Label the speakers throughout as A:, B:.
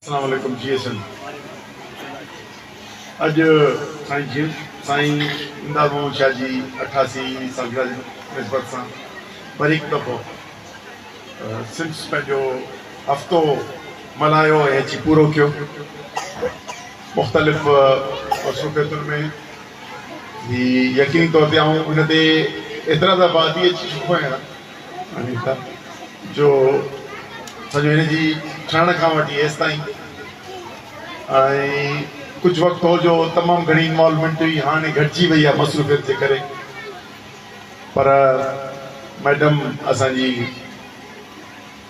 A: اسلام عليڪم G S M اڄ سائين جي سائين امداد محمد شاھ جي اٺاسي سالگرهه جي نسبت سان وري هڪ دفعو سمس پنهنجو هفتو ملهايو ۽ اچي پورو ڪيو مختلف مصروفيتن ۾ هي يقيني طور تي آئون هن تي ايترا دفعا اچي چڪو آهيان جو سڄو هن جي ٺهڻ کان وٺي ايستائين ڪجهه وقت هو جو تمام گهڻي انوالومينٽ هئي هاڻي گهٽجي وئي آهي مصروفيت جي ڪري پر ميڊم اسان جي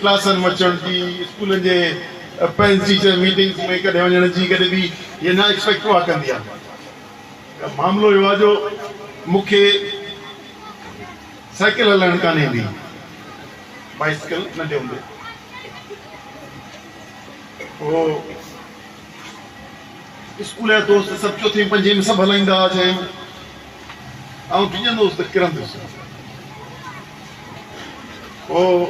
A: ڪلاسن مچڻ جي، اسڪولن جي پيرنٽس ٽيچر ميٽنگس ۾ ڪڏهن وڃڻ جي ڪڏهن به هيء نه ايڪسپيڪٽ هئا ڪندي ها. معاملو اهو آ جو مون کي سائيڪل هلائڻ ڪانه ايندي هئي. بائيسڪل ننڍي هوندي هو اسڪول جا دوست سڀ چوٿين پنجين ۾ سڀ هلائيندا هئا ڇهين ۾ آئون ڊڄندو هوس ته ڪرندس. هو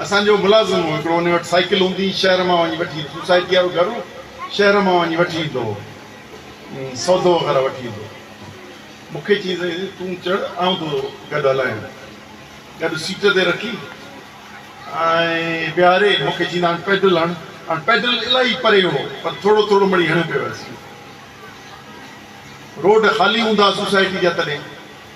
A: اسان جو ملازم هو. هڪڙو ان وٽ سائيڪل هوندي هئي، شهر مان وڃي وٺي ايندو هو. سوسائٽيء وارو گهر هو، شهر مان وڃي وٺي ايندو هو. سودو وغيره وٺي ايندو هو. مون کي چيائين ته تون چڙهه، آئون تو گڏ هلايان. گڏ سيٽ تي رکي ۽ ويهاري مون کي چيندا هاڻ پيڊل هڻ. هاڻ پيڊل الاهي پري هو، پر ٿورو ٿورو مڙئي هڻيو پيو ويس. روڊ خالي هوندا هئا سوسائٽي جا تڏهن.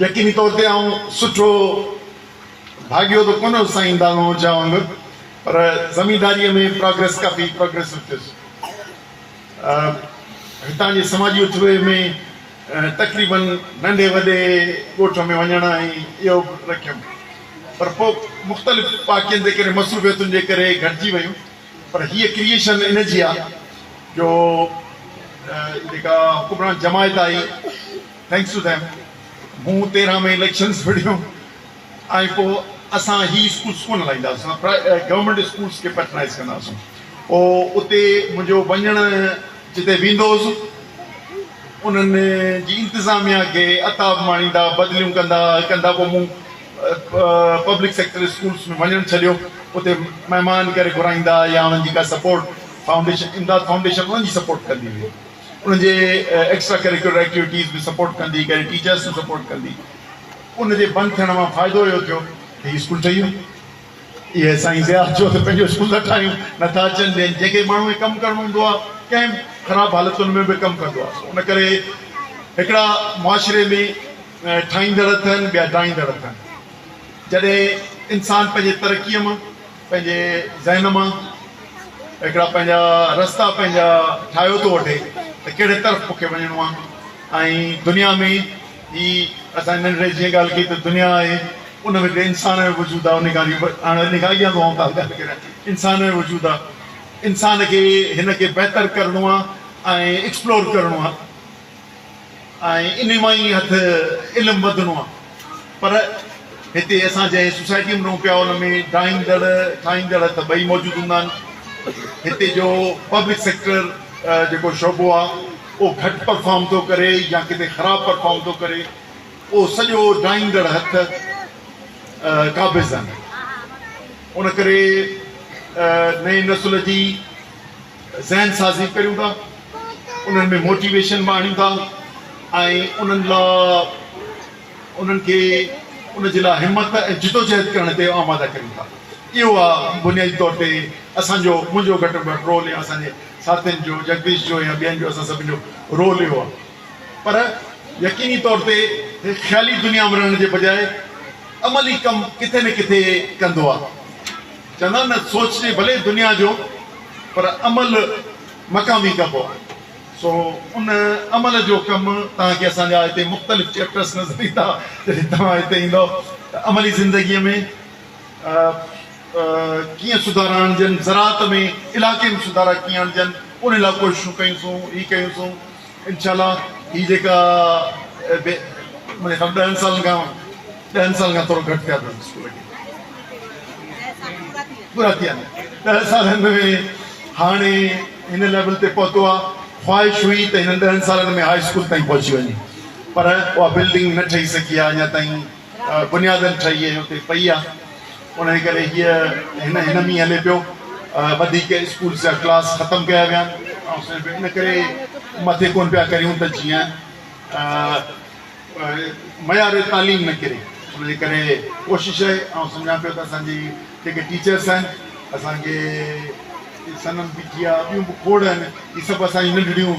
A: يقيني طور تي آئون سٺو ڀاڳيو ته ڪونه هوس سائين دانو جا وانگر پر زمينداريء ۾ پراگريس ڪافي پراگريسو ٿيس. هتان جي سماجي اٿوهي ۾ تقريباً ننڍي وڏي ڳوٺ ۾ وڃڻ ۽ اهو به رکيم پر پوء مختلف واقعن جي ڪري مصروفيتن جي ڪري گهٽجي ويون پر هيء ڪريئيشن ان جي آ جو جيڪا حڪمران جماعت آئي Thanks to them مون تيرهن ۾ اليڪشنز وڙهيون ۽ پوء اسان هي اسڪولز ڪونه هلائيندا هئاسين اسان گورنمينٽ اسڪولز کي پيٽرنائيز ڪندا هئاسون پوء اتي منهنجو وڃڻ جتي ويندو هوس انهن جي انتظاميا کي عتاب ماڻيندا بدليون ڪندا ڪندا پوء مون پبلڪ سيڪٽر اسڪولز ۾ وڃڻ ڇڏيو اتي مهمان ڪري گهرائيندا يا انهن جي ڪا سپورٽ فائونڊيشن امداد فائونڊيشن انهن جي سپورٽ ڪندي هئي انهن جي ايڪسٽرا ڪريڪولر ايڪٽيوٽيز به سپورٽ ڪندي ڪري ٽيچرس کي سپورٽ ڪندي ان جي بند ٿيڻ مان فائدو اهو ٿيو ته هي اسڪول ٺهي ويو اهي سائين ضياء چيو ته پنهنجو اسڪول ٿا ٺاهيون نه ٿا اچن ڏين جنهن کي ماڻهو کي ڪم ڪرڻو هوندو آهي ڪنهن به خراب حالتن ۾ به ڪم ڪندو آهي ان ڪري هڪڙا معاشري ۾ ٺاهيندڙ اٿن ٻيا ڊاهيندڙ اٿن جڏهن انسان پنهنجي ترقيء مان پنهنجي ذهن مان هڪڙا پنهنجا رستا پنهنجا ٺاهيو ٿو وٺي ته ڪهڙي طرف مون کي وڃڻو آهي ۽ دنيا ۾ هي اسان ننڍڙي جيئن ڳالهه ڪئي ته دنيا آهي ان ۾ هڪڙي انسان جو وجود آهي ان کان جي هاڻي ان کان اڳيان به آئون ڪا ڳالهه ڪريان انسان جو وجود آهي انسان کي هن کي بهتر ڪرڻو آهي ۽ ايڪسپلور ڪرڻو آهي ۽ انهي مان ئي هٿ علم وڌڻو آ پر هتي اسان جنهن سوسائٽي ۾ رهون پيا ان ۾ ڊاهيندڙ ٺاهيندڙ ته ٻئي موجود هوندا آهن هتي جو پبلڪ سيڪٽر جيڪو شعبو آ اهو گهٽ پرفارم ٿو ڪري يا ڪٿي خراب پرفارم ٿو ڪري اهو سڄو ڊاهيندڙ هٿ قابض آهن ان ڪري نئين نسل جي ذهن سازي ڪريون ٿا، انهن ۾ موٽيويشن به آڻيون ٿا ۽ انهن لا انهن کي ان جي لا همت ۽ جدوجهد ڪرڻ تي آماده ڪريون ٿا. اهو آ بنيادي طور تي اسان جو منهنجو گهٽ ۾ گهٽ رول يا اسان جي ساٿين جو جگديش جو يا ٻين جو اسان سڀن جو رول اهو آ پر يقيني طور تي هي خيالي دنيا ۾ رهڻ جي بجاء عملي ڪم ڪٿي نه ڪٿي ڪندو آ. چوندا آهن نه سوچجي ڀلي دنيا جو پر عمل مقامي ڪبو آهي سو ان عمل جو ڪم توهان کي اسان جا هتي مختلف چيپٽرس نظر ايندا جڏهن توهان هتي ايندؤ ته عملي زندگي ۾ ڪيئن سڌارا آڻجن زراعت ۾ علائقي ۾ سڌارا ڪيئن آڻجن ان لاء ڪوششون ڪيون سون هي ڪيون سون انشاء الله هي جيڪا به منهنجي خيال ڏهن سالن کان ڏهن سالن کان ٿورو گهٽ ٿيا اٿس اسڪول کي پورا ٿي ويا ڏهن سالن ۾ هاڻي هن ليول تي پهتو آ خواهش هئي ته هنن ڏهن سالن ۾ هاء اسڪول تائين پهچي وڃي پر اها بلڊنگ نه ٺهي سگهي آ اڃا تائين بنيادن ٺهي ۽ اتي پئي آ انهي ڪري هيء هن هن مي هلي پيو وڌيڪ اسڪولس جا ڪلاس ختم ڪيا ويا آن ان ڪري مٿي ڪون پيا ڪريون ته جيئن معيار تعليم نه ڪري انهي ڪري ڪوشش آهي آئون سمجهان پيو ته اسان جي جيڪي ٽيچرس آهن اسان کي سنم پي ٽي آ ٻيون به کوڙ آهن هي سڀ اسان جي ننڍڙيون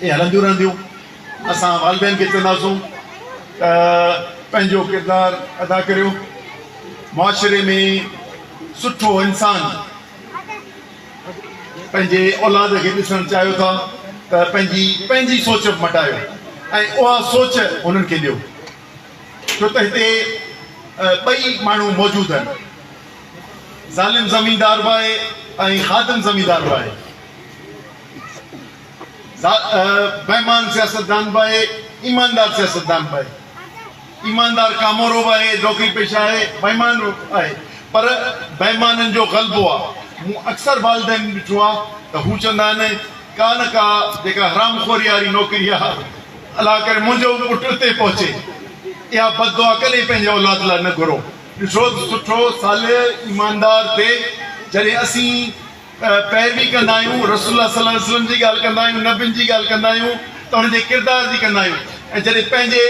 A: اهي هلنديون رهنديون. اسان والدين کي چونداسون ته پنهنجو ڪردار ادا ڪريو. معاشري ۾ سٺو انسان پنهنجي اولاد کي ڏسڻ چاهيو ٿا ته پنهنجي پنهنجي سوچ به مٽايو ۽ اها سوچ هنن کي ڏيو. ڇو ته هتي ٻئي ماڻهو موجود آهن. ظالم زميندار به آهي ۽ خادم زميندار به آهي. بيمان سياستدان به آهي، ايماندار سياستدان به آهي. ايماندار ڪامورو به آهي، نوڪري پيشه آهي، بيمان به آهي پر بيمانن جو غلبو آهي. مون اڪثر والدين ڏٺو آهي ته هو چوندا آهن ڪا نه ڪا جيڪا حرام خوري واري نوڪري آهي الله ڪري منهنجو به پٽ اتي پهچي. اها بد دعا ڪڏهن پنهنجي اولاد لاء نه گهرو. ڏٺو ته سٺو، صالح، ايماندار تي جڏهن اسين پيروي ڪندا آهيون، رسول الله صلي الله عليه وسلم جي ڳالهه ڪندا آهيون، نبين جي ڳالهه ڪندا آهيون ته انهن جي ڪردار جي ڪندا آهيون ۽ جڏهن پنهنجي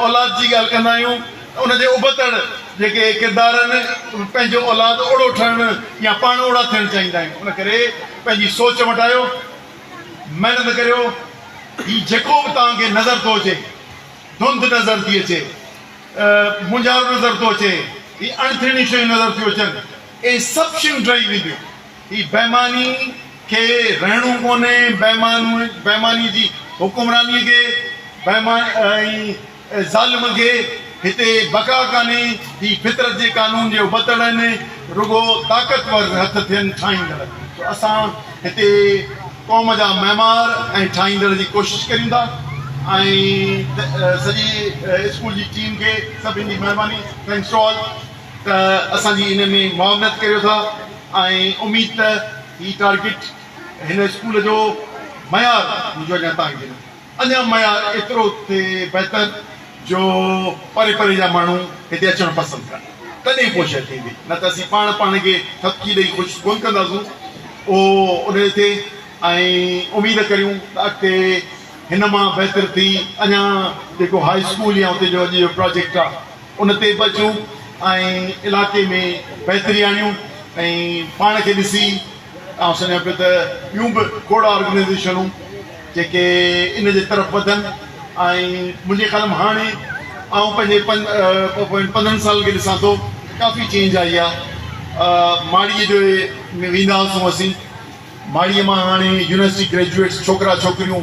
A: اولاد جي ڳالهه ڪندا آهيون ته ان جي ابتڙ جيڪي ڪردار آهن پنهنجو اولاد اوڙو ٺهڻ يا پاڻ اوڙا ٿيڻ چاهيندا آهيون ان ڪري پنهنجي سوچ مٽايو محنت ڪريو هي جيڪو به توهان کي نظر ٿو اچي ڌنڌ نظر ٿي اچي مونجهارو نظر ٿو اچي هي اڻٿيڻيون شيون نظر ٿيون اچن اي سڀ شيون ڊهي وينديون. هي بيماني کي رهڻو ڪونهي، بيماني جي حڪمراني کي، بيماني ۽ ظالم کي هتي بقا ڪانهي، هي فطرت جي قانون جي ابتڙ آهن، رڳو طاقتور هٿ ٿين ٺاهيندڙ جو اسان هتي قوم جا معمار ۽ ٺاهيندڙ جي ڪوشش ڪريون ٿا ۽ سڄي اسڪول جي ٽيم کي سڀن جي مهرباني Thanks to all. ته اسان جي ان ۾ معاونت ڪريو ٿا ۽ اميد ته هي ٽارگيٽ هن اسڪول جو معيار منهنجو اڃان تائين جي نه اڃان معيار ايترو ٿئي بهتر جو پري پري جا ماڻهو هتي اچڻ پسند ڪن تڏهن پوء شيء ٿيندي نه ته اسين پاڻ پاڻ کي ٿڦڪي ڏئي خوش ڪونه ڪنداسون اهو ان جو ٿئي ۽ اميد ڪريون ته اڳتي هن مان بهتر ٿي اڃان جيڪو هاء اسڪول يا اتي جو اڄ جو پراجيڪٽ آهي ان تي به اچون ۽ علائقي ۾ بهتري آڻيون ۽ پاڻ کي ڏسي آئون سمجهان پيو ته ٻيون به کوڙ آرگنائيزيشنون جيڪي ان جي طرف وڌن ۽ منهنجي خيال ۾ هاڻي آئون پنهنجي پوين پندرهن سالن کي ڏسان ٿو ته ڪافي چينج آئي آهي ماڙيء جو ويندا هئاسون اسين ماڙيء مان هاڻي يونيورسٽي گريجوئيٽس ڇوڪرا ڇوڪريون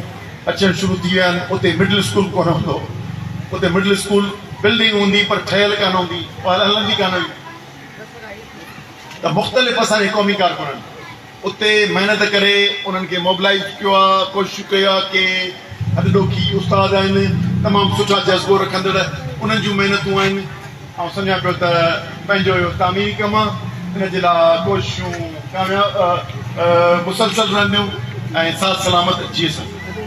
A: اچڻ شروع ٿي ويا آهن. اتي مڊل اسڪول ڪونه هوندو هو. اتي مڊل اسڪول بلڊنگ هوندي پر ٺهيل ڪانه هوندي هئي هلندي ڪانه هئي ته مختلف اسانجي قومي ڪارڪنن اتي محنت ڪري انهن کي موبلائيز ڪيو آهي ڪوششون ڪيو آهي ڪي هڏڏوکي استاد آهن تمام سٺا جذبو رکندڙ انهن جون محنتون آهن. آئون سمجهان پيو ته پنهنجو اهو تعميري ڪم آ، ان جي لاء ڪوششون ڪامياب مسلسل رهنديون ۽ ساز سلامت جيسن.